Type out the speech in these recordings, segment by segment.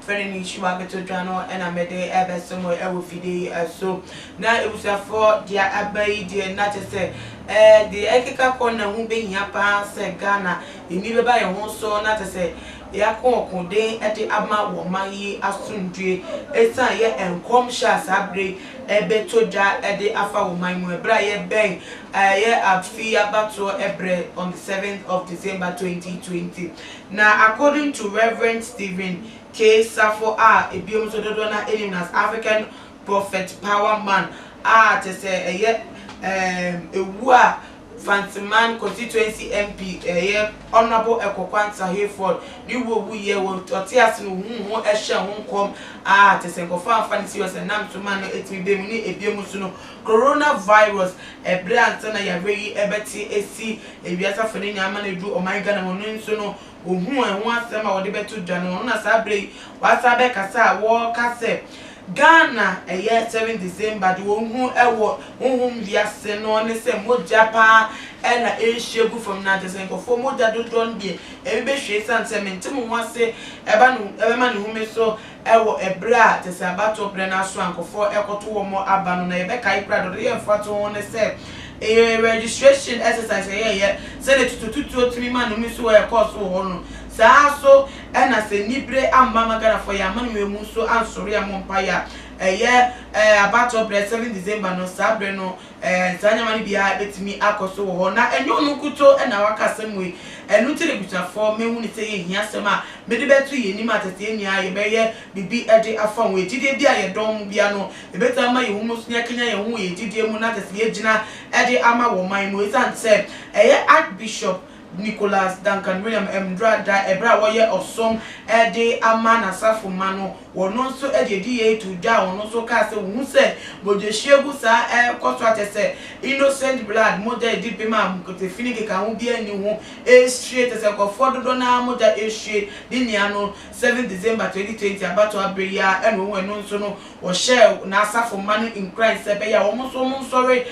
Fa ne nisuwa bɛtɔ dwa no na mede rebɛsɔ mo wɔ fidie yi so. Na abusuafoɔ deɛ aba yi deɛ na kyerɛ sɛ eh, deɛ ɛrekeka kɔ na ɛho bɛhia pa ara sɛ Ghana yɛni bɛba yɛn ho so na kyerɛ sɛ yɛako ɔkoden de ama wɔn man yi asomdwoeɛ ɛsiane yɛ nkɔmhyɛ a saa berɛ yi ɛrebɛtɔ dwa de afa wɔn man mu ɛberɛ a yɛrebɛn eh, yɛ afe abatoɔ berɛ on the 7th of December 2020. Na according to Rev. Stephen K. Sarfo a ebiom nso dodoɔ no ara nim no as African Prophet Power Man a kyerɛ sɛ ɛyɛ ɛɛm ewu a Fantsiman constituency MP ɛyɛ Honourable Ekokwansa Hayford ne wuo wu yɛ wɔ ɔte ase no ohuu ho hyɛɛ ho nkɔm a kyerɛ sɛ nkorɔfoɔ amfa no serious ɛnam so ma no ɛtumi baa mu ne ebiom nso no Coronavirus ɛberɛ a ansa na yareɛ yi ɛbɛte esi Ewiase Afanan Nyinaa Amane Aduru Ɔman Ghana mu no nso no, wɔhuu ɛho asɛm a wɔde bɛto dwa no. Ɔno na saa berɛ yi wɔasan abɛkasa a wɔreka sɛ Ghana ɛyɛ seventh December de wɔhu wɔ honhom wiase no ne sɛ mogya pa ara na ɛrehwie gu fam na kyerɛ sɛ nkurɔfoɔ mogya dodoɔ no deɛ ɛbɛhwie ɛsiane sɛ mente mo ho ase ɛba no ɛbɛma no hu me so wɔ ɛberɛ a te sɛ abatoɔ berɛ no aso a nkorɔfoɔ rekɔto wɔn aba no na yɛbɛkae koraa deɛ ɔde yɛ mfatoho ho ne sɛ ɛyɛ registration exercise a yɛyɛ sɛdeɛ tutututuo tumi ma no nniso a ɛkɔɔ so wɔ hɔ no saa ara nso na sɛ nibere amma ama Ghanafoɔ yɛn amanyɔyɛ mu nso ansɔre ammɔ mpaeɛ a ɛyɛ abatoɔ berɛ 7 December no saa berɛ no Ɛɛ, saa nneɛma no biara betumi akɔ so wɔ hɔ. Na ɛnyɛ ɔno nkutoo na waka asɛm wei. Ɛno nti na abusuafoɔ, mahu no sɛ ɛyɛ hia asɛm a mede bɛto yɛn anim a kyerɛ sɛ yɛn nyinaa yɛbɛyɛ biribi de afa ho. Gyidie bi a yɛdɔm mu biara no, ɛbɛtumi ama yɛn ho mu nso na yɛakanyan yɛn ho wɔ yɛn gyidie mu na kyerɛ sɛ yɛagyina de ama wɔ ɔman mu. Esiane sɛ ɛyɛ Archbishop Nicholas Duncan William Mmra da ɛberɛ a wɔyɛ ɔsom de ama n'asafo mma no, wɔno nso de adiyie too dwa a wɔno nso kaa sɛ wɔhu sɛ mogyahwiegu saa ɛrekɔ so a kyerɛ sɛ innocent blood, mogya a ɛdi bem a nkwatafini nkekaho biara nni ho, ɛrehwie kyerɛ sɛ nkorɔfoɔ dodoɔ no ara mogya ɛrehwie ne nua no 7 December 2020 abatoɔ aberɛ yi ara ɛna ɔhu ɛno nso no wɔhyɛɛ n'asafo mma no nkuran sɛ ɛbɛyɛ a wɔn nso wɔnsɔre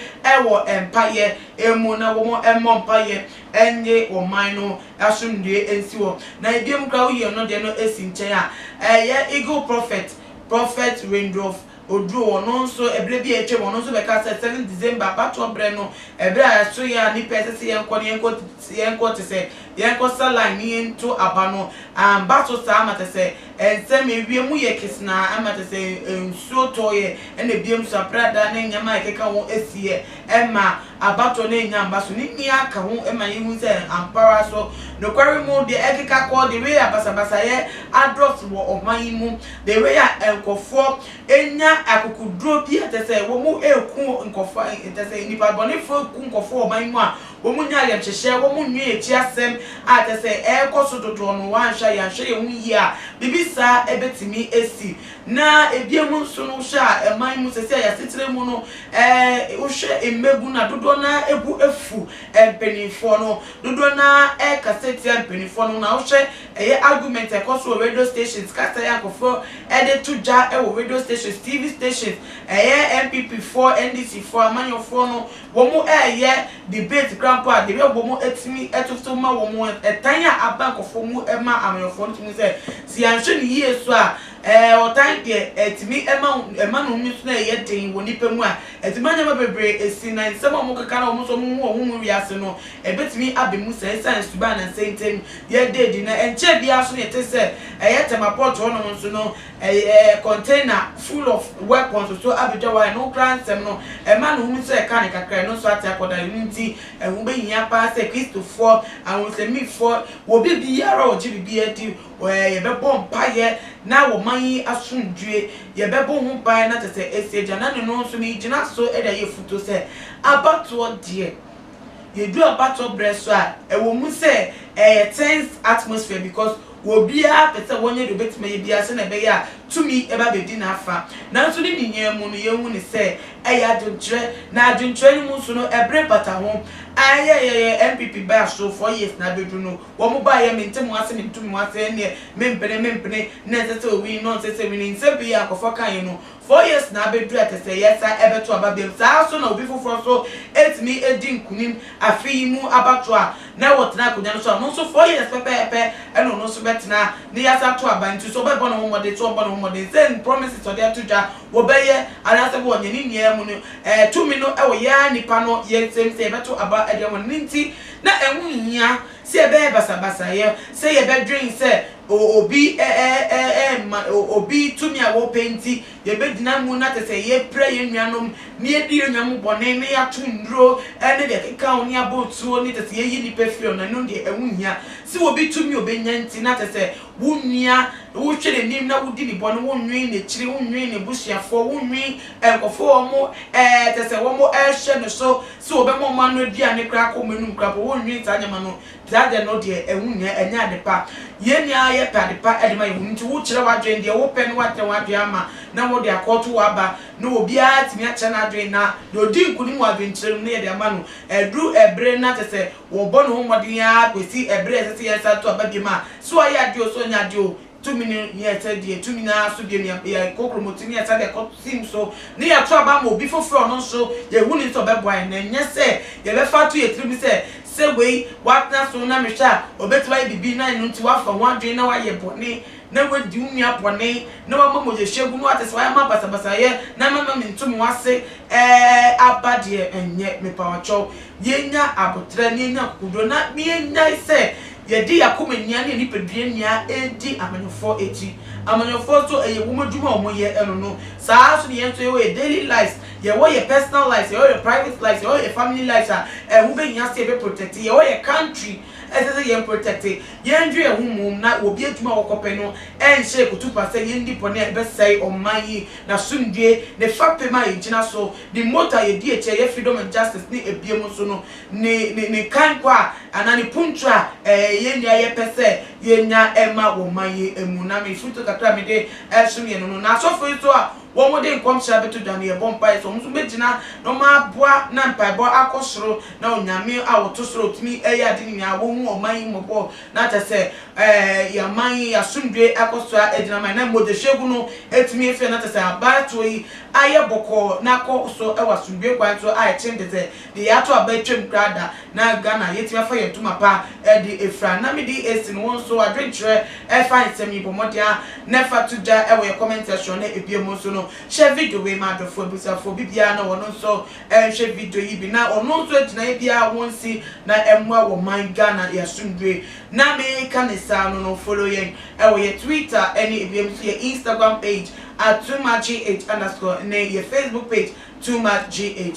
wɔ mpaeɛ mu na wɔmmɔ mpaeɛ nnye wɔn man no asomdwoeɛ nsi hɔ. Na ebiom koraa woyi ɔno deɛ no si nkyɛn a, ɛyɛ Eagle Prophet, Prophet Reindrolf Oduro, ɔno nso ɛberɛ bi a atwam ɔno nso bɛkaa sɛ seventh December abatoɔ berɛ no, ɛberɛ a ɛsoeɛ a nnipa a ɛsɛ sɛ yɛnkɔ no yɛnkɔ, yɛnkɔ te sɛ yɛnkɔ Sallah ne yɛntu aba no, amma so saa ma kyerɛ sɛ, Nsɛm, Ewiɛ mu yɛ kesenaa, ɛma te sɛ nsuo tɔeɛ, ɛna ebiem nso apradaa ne nneɛma a ɛkeka ho siɛ, ɛma abatoɔ no nnya mma so. Ne nyia ka ho ma yɛhu sɛ ampa ara so, nokware mu, deɛ ɛkeka kɔ, the way a basabasayɛ adɔs wɔ ɔman yi mu, the way a nkɔfoɔ nya akokoduro bi a kyɛ sɛ wɔn reku nkɔfoɔ, kyɛ sɛ nnipa bɔnefoɔ reku nkɔfoɔ wɔ ɔman yi mu a Wɔnnya ayamhyehyeɛ, wɔnnwen akyi asɛm a kyerɛ sɛ ɛrekɔ so dodoɔ no ho anhwɛ a yɛanhwɛ yɛn ho yie a, biribi saa bɛtumi asi. Na ɛbiam nso no, wohwɛ a ɛman mu seesei a yɛn asetra mu no, wohwɛ mmabunu no a, dodoɔ no ara bo afu mpaninfoɔ no, dodoɔ no ara rekasa tia mpaninfoɔ no, na wohwɛ ɛyɛ argument a ɛkɔ so wɔ radio stations, kasa yi a nkorɔfoɔ de to dwa wɔ radio stations, TV stations, ɛyɛ NPP foɔ, NDC foɔ, amanyɔfoɔ no, Wɔreyɛ debate koraa mpo a, deɛ ɛbɛyɛ wɔatumi atu so ma wɔn no, ɛtan a aba nkorɔfoɔ mu ma amanyɔfoɔ no tumi hu sɛ, sɛ yɛanhwɛ no yie nso a, ɛɛ, ɔtan deɛ, ɛtumi ma, ɛma no nso na ɛyɛ den wɔ nnipa mu a, ɛtumi ma nneɛma bebree ɛsi, na nsɛm a wɔkeka no a wɔn nso wɔhu wɔn ho mu wiase no, ɛbɛtumi aba mu saa ɛsiane suban a nansa ntam yɛda adi no. Ɛnkyɛɛ biara nso na yɛte sɛ ɛyɛ Tema Port hɔnom nso no, Ɛyɛ container full of weapons so abadwawa a ɛno koraa nsɛm no mma no ho mu sɛ ɛka ne kakra a ɛno nso ate akɔ daeɛ no nti ɛho bɛhia paa sɛ Kristofoɔ, ahosɛmifoɔ, wɔ biribiara a ɔgye biribiara di wɔ ɛ, yɛbɛbɔ mpaeɛ na ɔman yi asomdwoeɛ, yɛbɛbɔ ho ban na kyɛ sɛ ɛsi agya. Na ne no nso megyina so de ayɛ afutuo sɛ abatoɔ deɛ, yɛduru abatoɔ berɛ so a, ɛwɔ mu sɛ ɛyɛ tense atmosphere because. Obiara pɛ sɛ ɔnyɛ deɛ ɔbɛtumi ayɛ biara sɛdeɛ ɛbɛyɛ a tumi bɛba abɛdi n'afa. Nanso ne nyinaa mu no, yɛhu no sɛ ɛyɛ adwenkyerɛ, na adwenkyerɛ no mu nso no, ɛbere bata ho. Ɛyɛ yɛyɛ NPP baa so, four years na abɛduru no, wɔn baeɛ, mente mo ase, mentu mo ase, ɛnneɛ mempene, mempene, na ɛnsɛ sɛ ɔwini, na ɔnsɛ sɛ ɔwini, nsɛm pii a nkurɔfoɔ kaeɛ no, Four years na abedu a ɛsɛ sɛ yɛsan bɛto aba biom. Saa ara nso na obi foforɔ nso atumi adi nkunim afe yi mu abatoɔ a na ɔtena akonnwa no so a ɔno nso four years pɛpɛɛpɛ na ɔno nso bɛtena na yɛasan ato aba. Nti so ɔbɛbɔ ne ho mmɔden, so ɔmmɔ ne ho mmɔden sɛ ne promises a ɔde ato dwa wɔ bɛyɛ anaasɛ wɔ nyɛ ne nyinaa mu no, ɛɛ tumi no wɔ yɛn ara nnipa no yɛn nsam sɛ yɛbɛto aba de ama no. Ne nti na ɛho nhia sɛ yɛbɛyɛ basabasayɛ, sɛ yɛbɛdwen sɛ obi mma obi tumi a wɔpɛ nti, yɛbɛgyina mu na kyerɛ sɛ yɛrepira yɛn nuanom, na yɛadi yɛn nuanom bɔne, na yɛato nnuro ne deɛ ɛkeka ho, na yɛabɔ otuo, na kyerɛ sɛ yɛayi nnipa afiri hɔ no, ɛno deɛ ɛho nhia. Sɛ obi tumi a ɔbɛnya nti na kyerɛ sɛ wo nua, wohwɛ n'anim na wodi ne bɔne, wonnwen n'akyiri, wonnwen n'abusuafoɔ, wonnwen nkurɔfoɔ a wɔkyerɛ sɛ wɔhwɛ no so, sɛ wɔbɛma wɔn ano aduane koraa akɔ wɔn anom koraa mpo, wonnwen saa nneɛma no. Dza dɛ no deɛ ɛho nhia, ɛnyɛ ade pa. Yɛn nyinaa yɛpɛ ade pa de ma yɛn ho, nti wokyerɛ w'adwene deɛ wopɛ na woatene w'adwene ama na wɔde akɔɔto w'aba na obiara atumi akyerɛ n'adwene na deɛ ɔdi nkunim wɔ adwenkyerɛ no mu no yɛde ama no. Ɛduru ɛbere na kyɛsɛ wɔbɔ ne ho mmɔden ara kɔsi ɛbere a ɛsɛ sɛ yɛn nsa to aba biom a, sɛ ɔyɛ adeɛ o sɛ ɔnyɛ adeɛ o, Tumi no yɛɛ sɛ deɛ tumi no ara so deɛ nea yɛn kokuromoti no yɛ sɛ deɛ ɛkɔ sim so ne yɛto aba ma obi foforɔ a ɔno nso yɛnhu no sɛ ɔbɛboa yɛn na ɛnyɛ sɛ yɛbɛfa ato yɛn tirim sɛ sɛ wei watena so na mehwɛ a ɔbɛtumi ayɛ biribi na ɛno nti woafa ho adwene na woayɛ bɔne na woadi wo nua bɔne na woama mogyahwiegu na woate sɛ woayɛ ama basabasayɛ na mɛma mentu mo ase ɛɛ aba deɛ ɛnyɛ mepaw kyɛw yɛnya aboterɛ na yɛnya akokoɔduro na yɛnyae sɛ Yɛde yɛn akoma nyinaa ne yɛn nipadua nyinaa di amanyɔfoɔ akyi. Amanyɔfoɔ nso ɛyɛ wɔn adwuma a wɔyɛ ɛno no. Saa ara nso na yɛn nso yɛwɔ yɛn daily lives, yɛwɔ yɛn personal lives, yɛwɔ yɛn private lives, yɛwɔ yɛn family lives a ɛho bɛhia sɛ yɛbɛ protect. Yɛwɔ yɛn country a ɛsɛ sɛ yɛn protect. Yɛndwe yɛn ho mmom na obi adwuma a wɔkɔpɛ no ɛnhyɛ yɛn kutupa sɛ yɛndi bɔne a ɛbɛsɛe ɔman yi, n'asomdwoe, ne fapem a yɛgyina so, ne moto a yɛdi akyi a ɛyɛ freedom and justice ne ɛbinom nso no ne ne ne kankɔ a anaa ne puntu a ɛɛ yɛn nua yɛ pɛ sɛ yɛn nya ɛma wɔ man yi ɛmu na me furuto kakra a me de ɛɛsom yɛn no no na asɔfo yi nso a wɔn mo de nkɔmhyɛ abɛto dwa no yɛ bɔ mpaeɛ sɛ wɔn nso bɛ gyina na wɔn aboa na mpaebɔ akɔ soro na Onyame a ɔto soro a ɔtumi ɛyɛ ade nyinaa wɔ hu ɔman yi mmɔbɔ na kyɛ sɛ ɛɛ yɛn aman yi yɛn asomdwoe akɔ so a ɛgyina man na mogyahwiegu no atumi afira na kyɛ sɛ abaɛtoɔ yi ayɛ bɔkɔɔ na akɔ so ɛwɔ asomdwoe kwan so a ɛkyen de sɛ Deɛ yɛato aba atwam koraa da na Ghana yɛtumi afa yɛn toma pa de afira. Na me din Astin wo nso adwenkyerɛ ɛfa nsɛm yi bɔ mmɔden ara na ɛfa to dwa wɔ yɛn comment section na ebia mu nso no share video wei ma adɔfoɔ abusuafoɔ bi biara na wɔn nso nhwɛ video yi bi na wɔn nso agyinaeɛ biara wɔn nsi na ɛmmoa wɔ man Ghana yɛn asomdwoe na me ka ne saa no no follow yɛn wɔ yɛn twitter ne ebia mu nso yɛn instagram page at too much gh underscore ne yɛn facebook page too much gh.